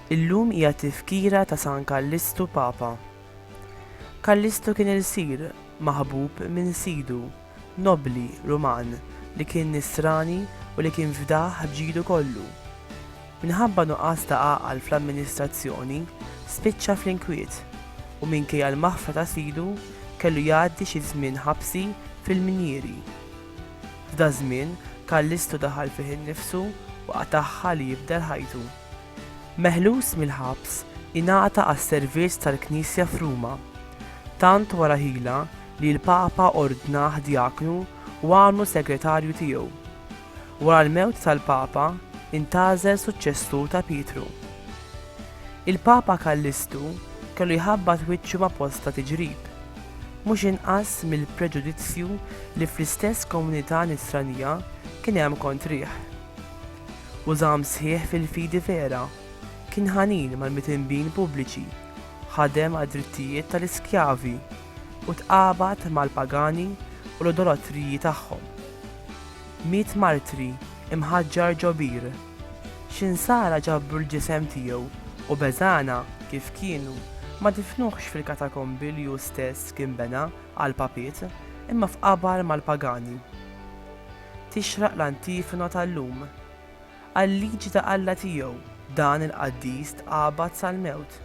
Illum hija tifkira ta' San Kallistu Papa. Kallistu kien ilsir, maħbub minn Sidu, Nobbli Ruman li kien Nisrani u li kien fdah b'ġilu kollu. Minħabba nuqqas ta' għaqal fl-amministrazzjoni, spiċċa fl-inkwiet u minkejja l-maħfra ta' sidu, kellu jgħaddi xi żmien ħabsi fil-minjieri. F'daż-żmien, Kallistu daħal fih innifsu u qatagħha li jibdel ħajtu. Meħlus mill-ħabs, ingħata għas-servizz tal-Knisja f'Ruma. Tant wara ħila li l-Papa ordnah djaknu u għamlu segretarju tiegħu. Wara l-mewt tal-Papa, intgħażel suċċessur ta' Pietru. Il-Papa Kallistu kellu jħabbat wiċċu ma' bosta tiġrib, mhux inqas mill-preġudizzju li fl-istess komunità Nisranija kien hemm kontrih. u żamm sħiħ fil-fidi vera, kien ħanin mal-mitinbin pubbliċi, ħadem għad-drittijiet tal-iskjavi, u tqabad mal-pagani u l-idolatriji tagħhom. Miet martri, imħaġġar ġo bir. X'insara ġabru l-ġisem tiegħu u beżagħna kif kienu ma difnuhx fil-katakombi li hu stess kien bena għall-papiet, imma f'qabar mal-pagani. tixraq l-antifona tal-lum. Għal-liġi ta' Alla tiegħu, dan il-qaddis tqabad sal-mewt,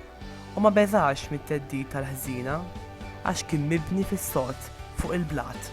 u ma beżax mit-theddid tal-ħżiena, għax kien mibni fis-sod fuq il-blat.